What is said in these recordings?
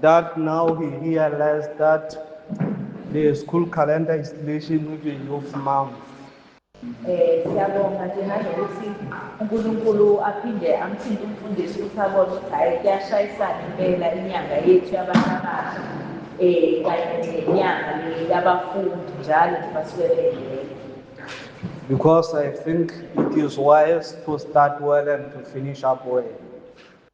That now he realized that the school calendar is clashing with the youth month. Eh siyabonga nje nanokuthi uNkulunkulu aphinde amthinte umfundisi ukuthi abone ukuthi hayi kuyashayisana impela inyanga yethu yabantu abasha eh kanye nenyanga yabafundi njalo nje basuke bengele because I think it is wise to start well and to finish up well.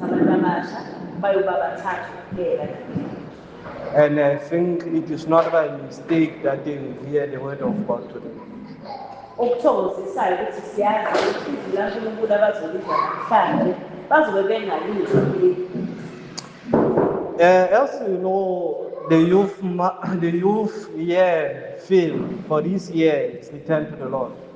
Sabantu abasha bayoba bathathu kuphela nabili. And I think it is not by mistake that they will hear the word of God today. Okuthokozisayo ukuthi siyazi ukuthi izwi laNkulunkulu abazolizwa namhlanje bazobe bengalizwa kuleli. Uh, as you know, the youth, ma- the youth year film for this year is Return to the Lord.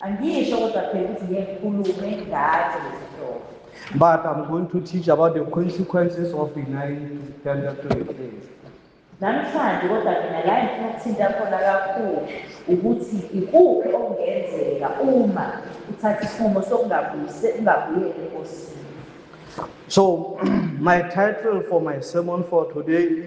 Angisho kodwa phela ukuthi ngeke ngikhulume ngazo lezi nhlobo. But I'm going to teach about the consequences of denying to stand up to the claims. Namhlanje kodwa mina la engifuna ukuthinta khona kakhulu ukuthi ikuphi okungenzeka uma uthatha isinqumo sokungabuyise ungabuyeli enkosini. So my title for my sermon for today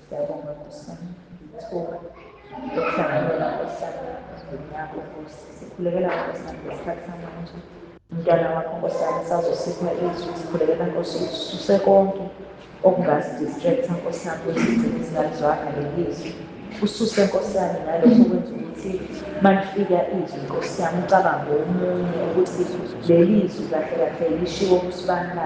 Siyabonga Nkosi yami ithuba lokuhlanganyela Nkosi yami emdeni yakho Nkosi. Sikhulekela Nkosi yami ngesikhathi samanje. Umntwana wakho Nkosi yami sazosipha izwi sikhulekela Nkosi ususe konke okungasidistracta Nkosi yami ukuthi sigcine singalizwanga leli zwi. Ususe Nkosi yami nalokho okwenza ukuthi malifika izwi Nkosi yami ucabange omunye ukuthi leli zwi kahle kahle lishiwo kusibani na.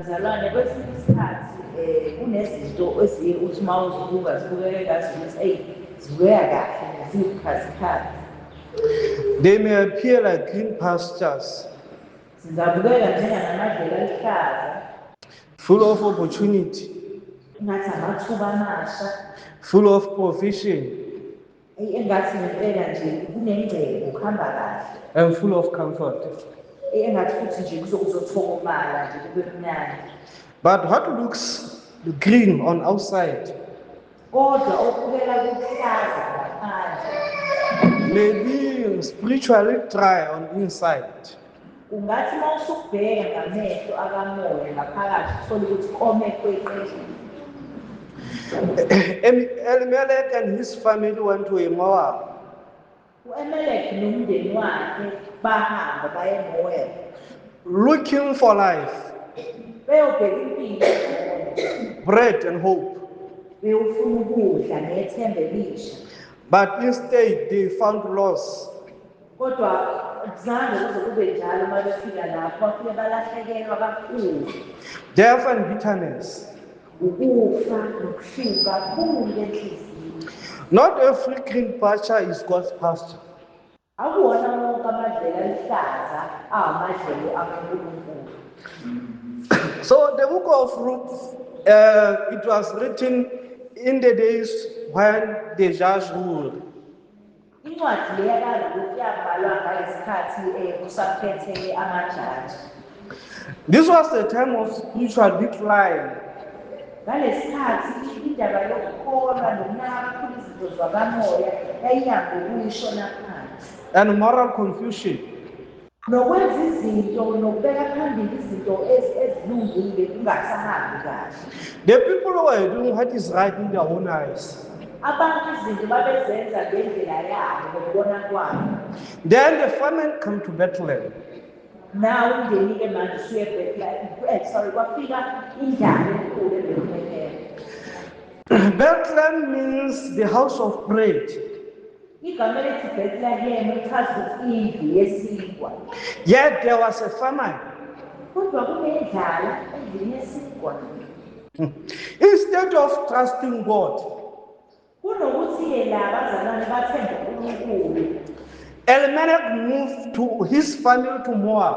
Mzalwane kwesinye isikhathi um kunezinto eziye uthi uma uzibuka zibukeke ngazi ukuthi eyi zibukeka kahle ziwubukhazikhazi They may appear like green pastures. Zingabukeka njengangamadlela aluhlaza. Full of opportunity. Ngathi amathuba amasha. Full of provision. Eyi engathi ngempela nje kunengcebo kuhamba kahle. I'm full of comfort. Eyi engathi futhi nje kuzokuzothokomala nje kube mnandi. But what looks green on outside? Kodwa okubeka kuhlaza ngaphandle. Maybe spiritually dry on inside. Ungathi uma usukubheka ngamehlo akamoya ngaphakathi uthole ukuthi kome kweqile. Elimelek and his family went to Moab. U-Emelek nomndeni wakhe bahamba baye eMoab Looking for life, beyobheka impilo engcono. bread and hope. Bewufuna ukudla nethemba elisha. But instead they found loss. Kodwa akuzange kuze kube njalo uma befika lapho, bafike balahlekelwa kakhulu. Death and bitterness. Ukufa nokuhluka kukhulu enhliziyweni. Not every green pasture is God's pasture. Akuwona wonke amadlela aluhlaza awamadlelo akaNkulunkulu. So the book of Ruth, uh, it was written in the days when the judge ruled. Incwadi le yakaRuth yabhalwa ngangesikhathi kusakhetheke amajaji. This was the time of spiritual decline. Ngalesikhathi indaba yokukholwa nokunakakhulu izinto zakamoya yayinyangokuyi shona phansi. And moral confusion. Nokwenza izinto nokubeka phambili izinto ezilungile kungasahambi kahle. The people were doing what is right in their own eyes. Abantu izinto babezenza ngendlela yabo ngokubona kwabo. Then the famine came to Bethlehem. Nawo umndeni-ke manje usuye eBethlehem. Eh, sorry, kwafika indlala enkulu eBethlehem. Bethlehem means the house of bread. Igama elithi Bethlehem lichaza ukuthi indlu yesinkwa. Yet there was a famine. Kodwa kunendlala endlini yesinkwa. Hmm. Instead of trusting God. Kunokuthi yena abazalwane bathembe uNkulunkulu. Elimelech moved to his family to Moab.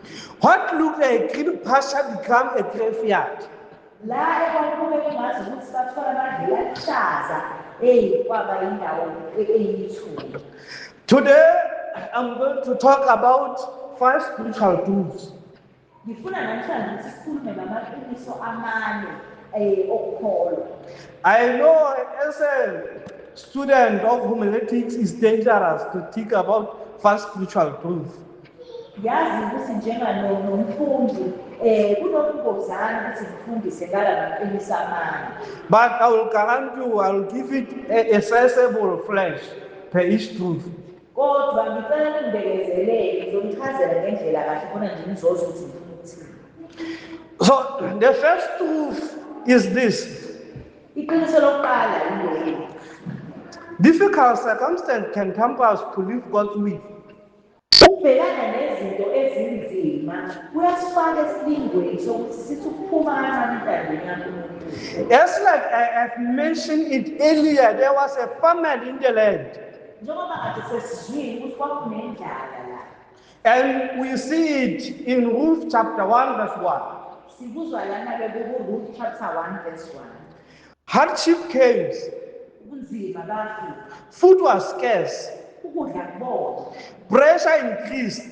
What look a green pasture become a graveyard? La ekwakube kungazi ukuthi sathola amadlela aluhlaza eyi kwaba indawo eyithuli. Today I'm going to talk about five spiritual truths. Ngifuna namhlanje ukuthi sikhulume ngamaqiniso amane eh okukholwa. I know as a student of homiletics is dangerous to think about five spiritual truths. Yazi ukuthi njengalo nomfundi eh kunokungozana ukuthi ngifundise ngala maqiniso amane. But I will guarantee you, I will give it a, a sensible flash per each truth. Kodwa ngicela ningibekezelele ngizonichazela ngendlela kahle khona nje nizozwa ukuthi ngifuna ukuthini. So the first truth is this. Iqiniso lokuqala yileli. Difficult circumstance can temper us to leave God's will. Ukubhekana nezinto ezinzima kuyasifaka esilingweni sokuthi sithi ukuphuma kancane entandweni kaNkulunkulu. As like I have mentioned it earlier, there was a famine in the land. Njengoba kade sesizwile ukuthi kwakunendlala la. And we see it in Ruth chapter 1 verse 1. Sikuzwa lana-ke kukuRuth chapter 1 verse 1. Hardship case. Ubunzima bafi. Food was scarce. Ukudla kubona. Pressure increased.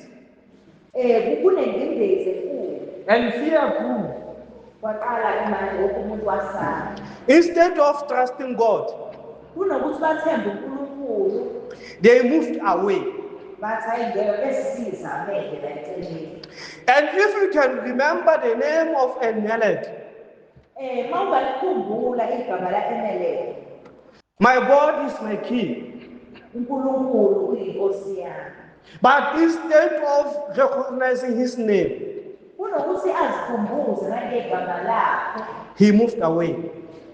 Eh kunengcindezi enkulu. And fear grew. Kwaqala imanje wonke umuntu wasala. Instead of trusting God. Kunokuthi bathembe uNkulunkulu. They moved away. And if you can remember the name of Elimelech, Eh mawungalikhumbula igama la emelele. My God is my king. UNkulunkulu uyinkosi yami. But instead of recognizing his name, kunokuthi azikhumbuze nangegama lakhe, he moved away.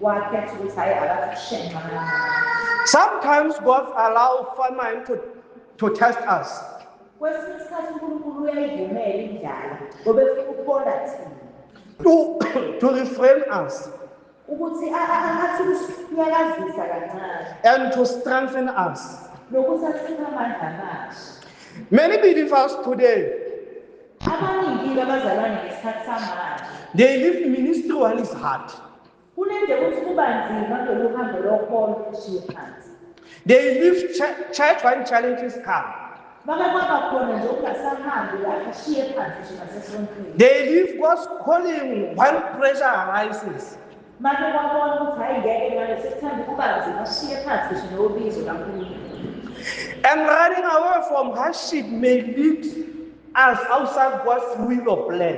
Wakhetha ukuthi hayi akakushenxa. Sometimes God allows famine to, to test us. Kwesinye isikhathi uNkulunkulu uyayivumela indlala ngoba efuna ukubona thina. To, to refrain us. Ukuthi athi ukusinyakazisa kancane. And to strengthen us. Nokuthi asiphe amandla amasha. Many believe us today. Abaningi abazalwane ngesikhathi samanje. They live ministry while is hard. Kunendebe ukuthi kuba nzima kulolu hambo lokholo ushiye phansi. They leave church, church when challenges come. Bake kwaba khona nje ukungasahambi lapho ushiye phansi nje nasesontweni. They leave God's calling when pressure arises. Make kwabona ukuthi hhayi ngeke manje sekuthanda ukuba nzima ushiye phansi ngisho nobizo kaNkulunkulu. And running away from hardship may lead us outside God's will or plan.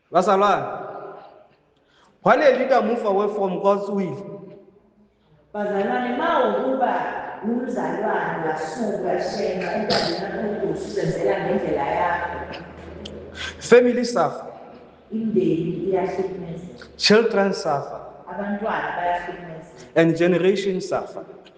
Bazalwane, waleli kamuva wefomu kwaSwile. Bazalwane, ma ukuba umzalwane wasuka shenxa entandeni yakho usebenzela ngendlela yakho. Family suffer. Imndeni iyahlukumezeka. Children suffer. Abantwana bayahlukumezeka. And generation suffer.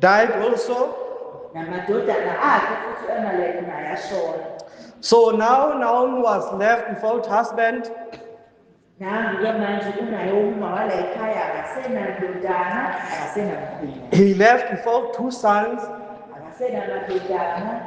died also. Namadodana akhe futhi u-Amaleki naye ashona. So now Naomi was left without husband. Nangu-ke manje uNaomi wala ekhaya akasenandodana akasenamkhwina. He left without two sons. Akasenamadodana.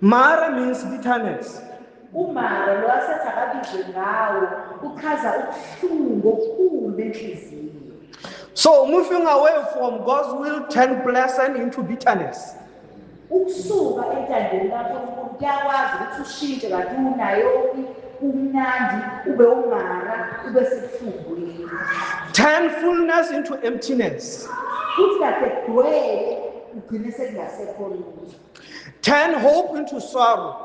Mara means bitterness. Umara lo asethi akabizwe ngawo uchaza ubuhlungu obukhulu benhliziyo. So moving away from God's will turn blessing into bitterness. Ukusuka entandeni kaNkulunkulu kuyakwazi ukuthi ushintshe kanti unayo umnandi ube umara ube sekuhlungwini. Turn fullness into emptiness. Kuthi kahle kugcwele ugcine sekungasekho lutho. Turn hope into sorrow.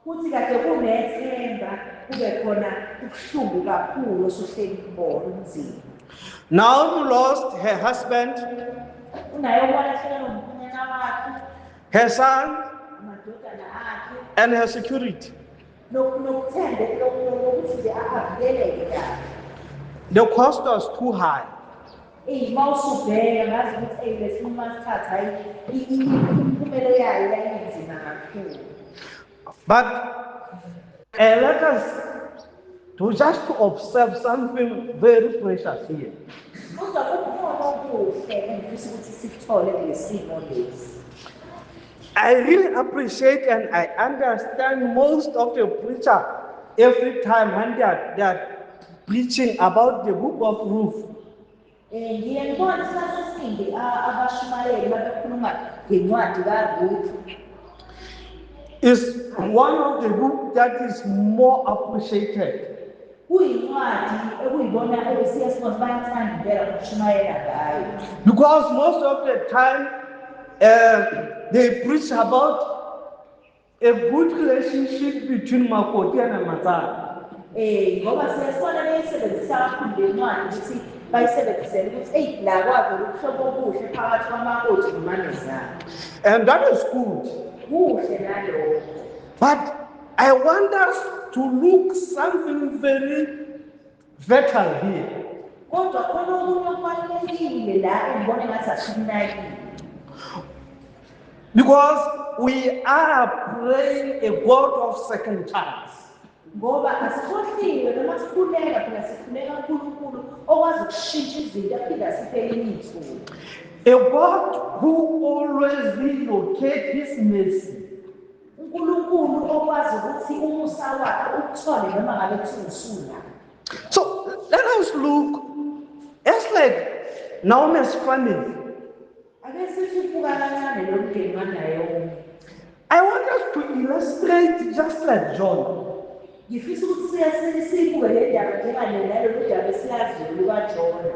Kuthi kade kunethemba kube khona ubuhlungu kakhulu osuhleli kubona umzimba. Now you lost her husband. Unaye okwalahleka nomkhonyana wakhe. Her son. Amadodana akhe. And her security. Nokuthembe lokuthi nje avikeleke kahle. The cost was too high. Eyi mawusubheka ngazi ukuthi eyi lesinqumo asithatha hayi imiphumelo yayo yayinzima kakhulu. But uh, let us to just to observe something very precious here. Kodwa kukhona okuhle engifisa ukuthi sikuthole ngesimo lesi. I really appreciate and I understand most of the preacher every time when they are, they are preaching about the book of Ruth. Eh, ngiye ngibone isikhathi esiningi abashumayeli babekhuluma ngencwadi kaRuth. Is one of the book that is more appreciated. Kuyincwadi ekuyibona ebesiya sibona bayithanda impela ukushumayela ngayo. Because most of the time uh, they preach about A good relationship between makoti and Matsala. Eh ngoba siyasibona beyisebenzisa kakhulu le ncwadi ukuthi bayisebenzisele ukuthi eyi la kwavela ubuhlobo obuhle phakathi kwamakoti nomanezana And that is good. kuhle nalokho But I want us to look something very Vetal here. Kodwa khona okunye okubalulekile la engibona engathi asikunakile. Because we are praying a God of second chance. Ngoba asikhohliwe noma sikhuleka phela sikhuleka uNkulunkulu okwazi ukushintsha izinto aphinde asiphe elinye ithuba. A God who always relocates his mercy uNkulunkulu okwazi ukuthi umusa wakhe ukuthole noma ngabe kuthiwa usula so let us look it's like naomi's family ake sithi ubuka kancane lo mndeni wanayomi i want us to illustrate just like john ngifisa ukuthi siyasenisiyibukele indaba njenganenalolu daba esilaziyo lukajona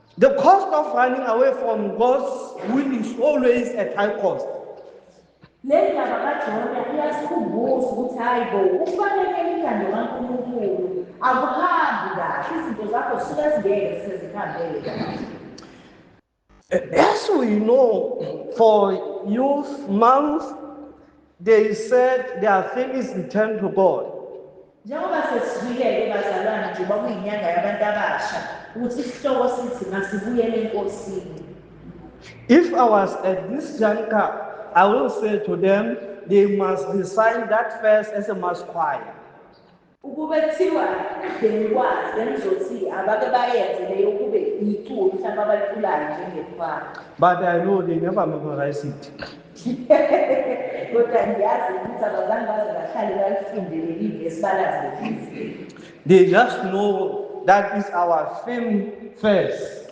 The cost of running away from God's will is always at high cost. Le ndaba kaJona iyasikhumbuza ukuthi hayi bo ukufanele imithando kaNkulunkulu akuhambi kahle izinto zakho zisuke zingeke sezihambele As we know, for youth month, They said there are things returned to God. Njengoba sesizwile-ke bazalwane njengoba kuyinyanga yabantu abasha ukuthi isihloko sithi masibuyele enkosini. If I was at this juncture, I will say to them, they must recite that verse as a mass choir. Ukube kuthiwa ekudleni kwazo bengizothi abake bayenze leyo kube yiculo mhlawumbe abaliculayo njengekhwaya. But I know they never memorize it. Kodwa ngiyazi ukuthi abazange baze bahlale balifunde leli vesi balazi leli. They just know that is our film first.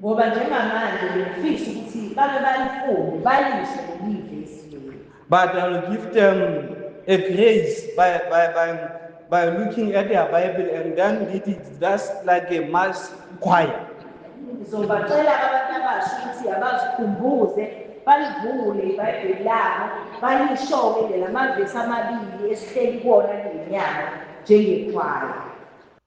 Ngoba njengamanje ngiyafisa ukuthi bake balifunde balizwe lelive esimeni. But I will give them a grace by, by, by, by looking at their Bible and then it is just like a mass choir. Ngizobacela abantu abasha ukuthi abazikhumbuze balivule iBhayibheli labo balishoke nje lamavesi amabili esihleli kuwona ngenyanga njengekhwaya.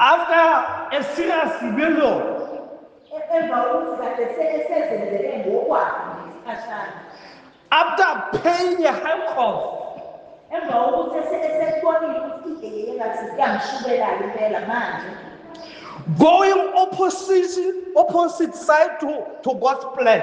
After a serious rebellion, emva kokuthi kade esezenzele ngokwakhe ngesikhashana after paying a high cost, emva kokuthi esebonile ukuthi engathi kuyamshubela impela manje going opposite, opposite side to, to God's plan.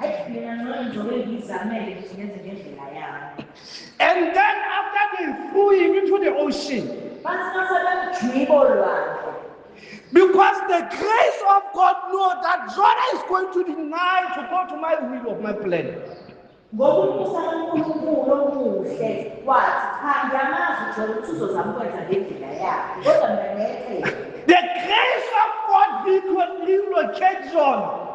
Ayi mina ngcono njobe ngizamele ukuthi ngenze ngendlela yami. And then after they threw him into the ocean. Basi mase bamjwiba olwandle. Because the grace of God knows that Jonah is going to deny to go to my will of my plan. ngokubusa kuNkulunkulu okuhle wathi cha ngiyamazi uJona ukuthi uzozama ukwenza ngendlela yakhe kodwa mina ngeke The grace of God will will locate Jonah.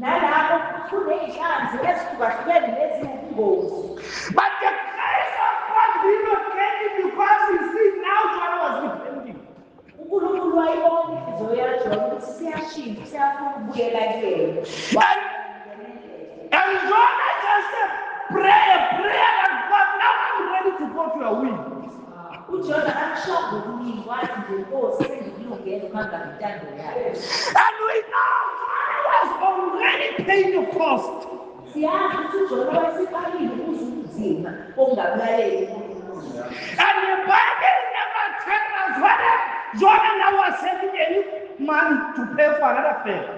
Nalapho futhi kunezinhlanzi ezihlukahlukene neziwubungozi. But the grace of God did not get him because he see now John was repenting. uNkulunkulu wayibona inhliziyo yaJona ukuthi siyashintsha siyafuna ukubuyela kuyena And, and Jonah just said, pray a prayer that God, now I'm ready to go to your will. UJona akushongo kuningi wathi nje Nkosi sengikulungele uma ngabe intando yakho. And we know Jonah was already paying the cost. Siyazi ukuthi uJona wayeseqalile ukuze ubunzima bokungabulaleli uNkulunkulu. And the Bible never tells us whether Jonah now was saving any money to pay for another favor.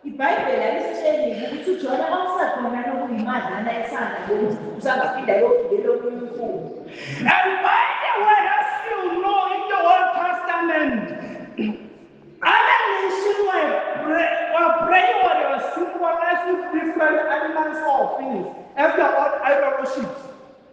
IBhayibheli alisitsheli-ke ukuthi uJona kwakusekhona lokhu yimadlana esandla yomzi, usangaphinda ayogibela omunye umfula. And by the way, as you know, in the Old Testament, other nations were prey, were prey or they were symbolized with different animals or things as their own idol worships.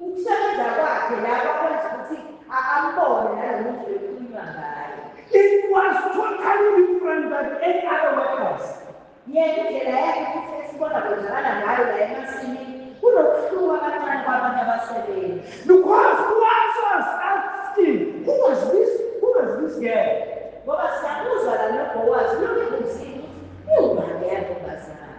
Ukusebenza kwakhe lapha kwenza ukuthi ambone nalo muntu bekukhulunywa ngaye. It was totally different than any other workers. Yena indlela yakhe futhi esibona kwenzakala ngayo la emasimini kunokuhluka kancane kwabanye abasebenzi. Because who was asking, who was this, who was this girl? Ngoba siyakuzwa la noBowazi, lokhu kunzima ukuthi iwubani yabo bazali.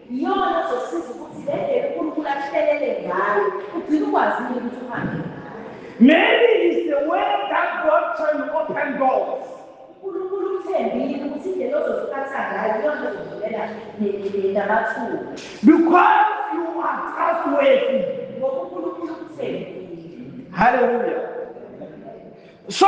Iyona ozosiza ukuthi le ndlela uNkulunkulu akuhlelele ngayo ugcine ukwazile ukuthi uhambe ngayo. Maybe it's the way that God trying to open doors. uNkulunkulu uthembile ukuthi indlela ozoziphatha ngayo iyona ezovulela namathuba Because you are trustworthy. ngoba uNkulunkulu ukuthembile. Hallelujah. So,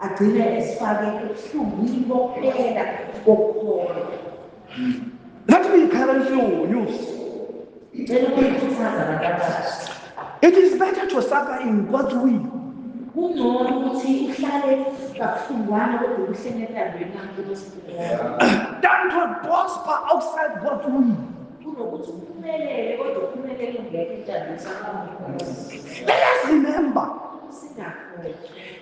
Agcine esifake ebuhlungwini bokuphela kokukholwa. Ngathi ngiyikhala inhlungu news. Ngicela ukuyikhuthaza abantu abasha. It is better to suffer in God's will. Kungcono ukuthi uhlale kabuhlungwana kodwa uhlele entandweni kaNkulunkulu. Than to prosper outside God's will. Kunokuthi uphumelele kodwa uphumelele ungeke entandweni kaNkulunkulu. Let us remember. Singakhohlwa.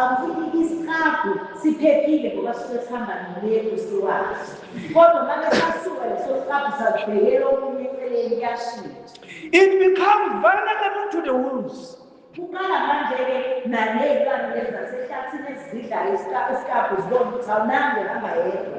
Akuthi isiqabhu siphephile ngoba sisuke sihamba nomuntu siwazi. Kodwa uma besasuka leso siqabhu sakubhekela okunye eceleni kuyashintsha. It becomes vulnerable to the wolves. Kuqala manje-ke naley'lwane lezi zasehlathini ezidlayo isiqabhu zibona ukuthi awunange hamba yedwa.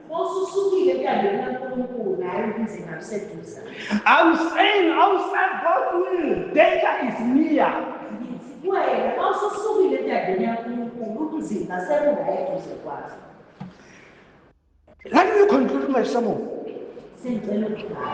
Ususukile entandweni kaNkulunkulu naye ubunzima buseduza. I'm saying outside God's will, danger is near. Ngithi kuwena mawususukile entandweni kaNkulunkulu ubunzima sebula eduze kwakho. Let me conclude my sermon. Sengicela ukubhala.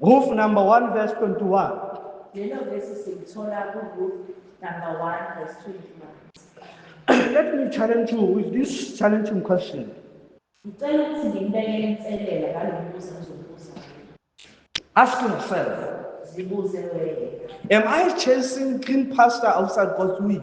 Ruth number 1 verse 21. Lelo vesi silithola kuRuth number 1 verse 21. Let me challenge you with this challenging question. Ngicela ukuthi ngimbeke inselela ngalo mbuzo ngizobuza. Ask yourself. Zibuze wena. Am I chasing clean pastor outside God's will?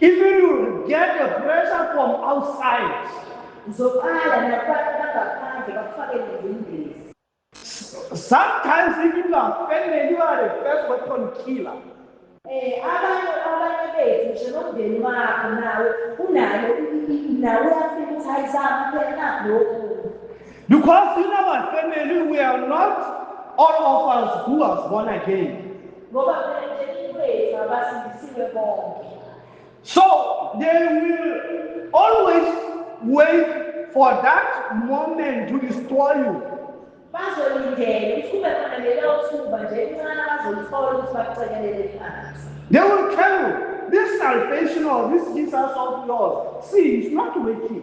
If you will get the pressure from outside, uzoqala nabantu bangaphandle bakufake nezingcezi. Sometimes even you are family, you are the first weapon killer. Eh, abantu abanye bethu ngisho nomndeni wakho nawe unayo nawe uyafika ukuthi hayi zama phela nakho lokhu. Because in our family we are not all of us who are born again. Ngoba phela emndenini wethu abasindisiwe bonke. So they will always wait for that moment to destroy you. Bazolindela ukuthi kube khona lelo thuba nje elincane bazolithola ukuthi bakucekelele phansi. They will tell you this salvation or this Jesus of yours, see, it's not working.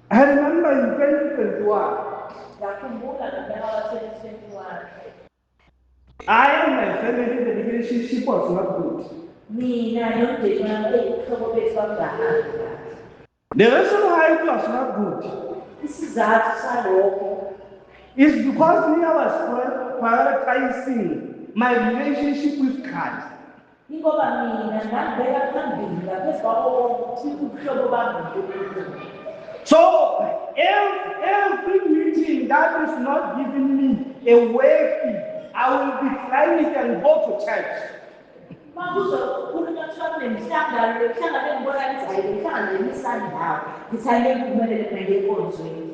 I remember in 2021. Ngakhumbula ngonyaka wa-2021. I and my family, the relationship was not good. Mina nomndeni wami eyihlobo bethu kwakungahamba kahle. The reason why it was not good Isizathu salokho is because me, I was prior- prioritizing my relationship with Christ. Ingoba mina ngambeka phambili ngaphezu kwabo bonke ukuthi ubuhlobo bami noNkulunkulu. So ev every meeting that is not giving me a wave, I will decline it and go to church. Uma kuzokhulunywa kuthiwa kunemihlangano lemihlangano engibona ngizayile imihlangano yemisandawo, ngithi angeke ngiphumelele mina ngiye enkonzweni.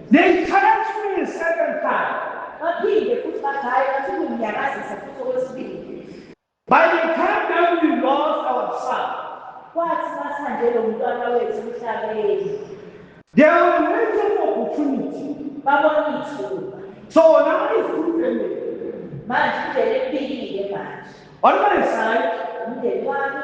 They tried to bring a second time. Baphinde futhi bathi bathi kumnyakazisa futhi okwesibili. By the time that we lost our son. Kwathi masihambele umntwana wethu emhlabeni. They were waiting for opportunity. Babona ithuba. So now is good family. Manje indlela ephilile manje. On my side, umndeni wami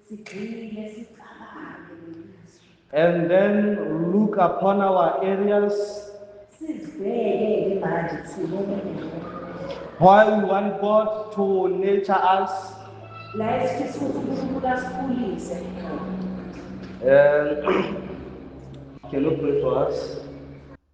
Sigxile sicabange ngamazwi. And then look upon our areas. Sizibheke manje sibone why we want God to nurture us. Um, can you pray for us?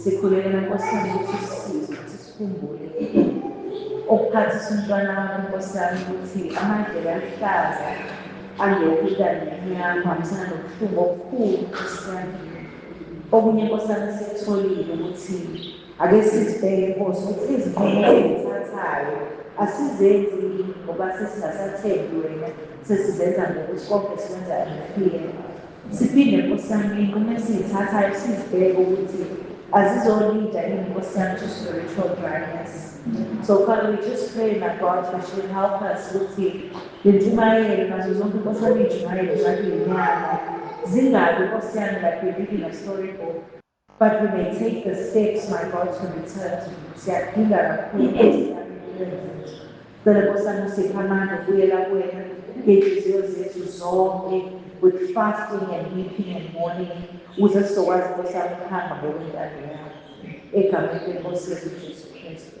Sikhulekela Nkosi yami ukuthi usisize ukuthi sikhumbule ukuphathisa umntwana wakho Nkosi yami ukuthi amadlela aluhlaza angekho idalini yakho hambisana nobuhlungu obukhulu Nkosi yami okunye Nkosi yami sikutholile ukuthi ake sizibheke Nkosi ukuthi izinqumo ezithathayo asizenzi ngoba sesingasathembi wena sesizenza ngokuthi konke sikwenza ngifile Siphinde nkosi yami uma esiyithathayo sizibheke ukuthi azizolida yini nkosi yami to spiritual dryness so father we just pray my god that you will help us ukuthi lentshumayelo nazo zonke nkosi yami iy'ntshumayelo zakhe yinyanga zingabi nkosi yami like we're reading a story book But we may take the steps my God to return to you siyakudinga kakhulu zethu cela nkosana usipha amandla ukubuyela kuwena ngey'nhliziyo zethu zonke with fasting and weeping and mourning ukuze sizokwazi nkosi yami ukuhamba ngokwentando yakho egameni lenkosi yethu jesu kristu